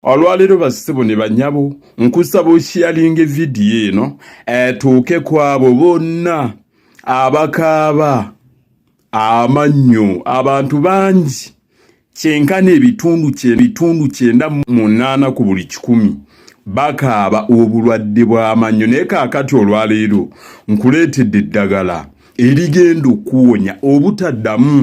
Olwaleero bassebo ne banyabo nkusaba oshiyalinge vidiyo eno etuuke eh, kwabo bonna abakaaba amannyo abantu bangi kyenkana ebitundu kyebitundu kyenda munaana ku buli kikumi bakaaba obulwadde bw'amannyo naye kaakati olwaleero nkuleetedde eddagala erigenda okuwonya obutaddamu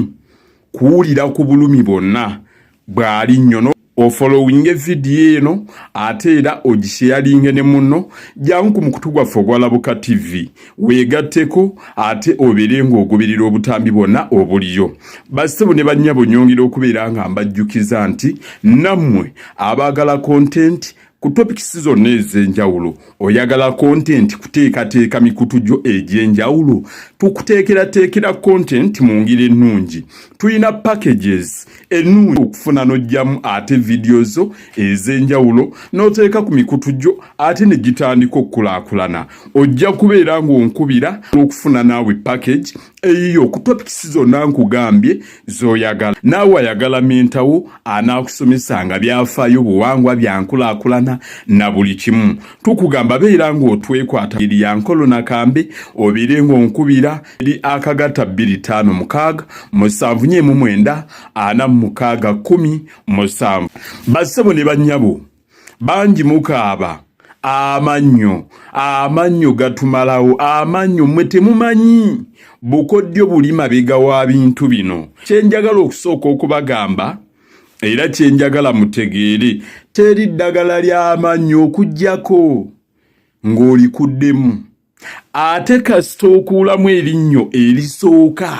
kuwulira ku bulumi bwonna bw'ali nnyo ofolowinge vidiyo eno ate era ogisheyalinge ne munno jangu ku mukutu gwaffe ogwalabuka tv weegatteko ate obeere ng'ogoberera obutambi bwonna obuliyo bassebo ne bannyabo nyongera okubeera nga mbajjukiza nti nammwe abaagala kontenti Ku topikisi zonna ez'enjawulo oyagala kontenti kuteekateeka mikutu gyo egy'enjawulo tukuteekerateekera kontenti mu ngeri ennungi tulina packages ennungi okufuna n'oggyamu ate vidiyo zo ez'enjawulo n'oteeka ku mikutu gyo ate ne gitandika okukulaakulana ojja kubeera ng'onkubira n'okufuna naawe package eyiyo ku topics zonna nkugambye zoyagala naawe ayagala mintawo anaakusomesanga byafaayo buwangwa byankulaakulana na buli kimu tukugamba beera ng'otwekwata eri ya nkolo nakambe obeere ng'onkubira eri akagatta bbiri ttaano mukaaga musanvu nyeemu mwenda ana mu mukaaga kkumi musanvu bassebo ne bannyabo bangi mukaaba amannyo amannyo gatumalawo amannyo mmwe temumanyi bukoddyo buli mabega wa bintu bino kyenjagala okusooka okubagamba era kyenjagala mutegeere teri ddagala ly'amannyo okugyako ng'olikuddemu ate kasita okuulamu erinnyo erisooka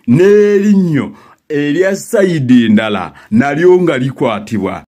n'erinnyo erya sayidi endala nalyo nga likwatibwa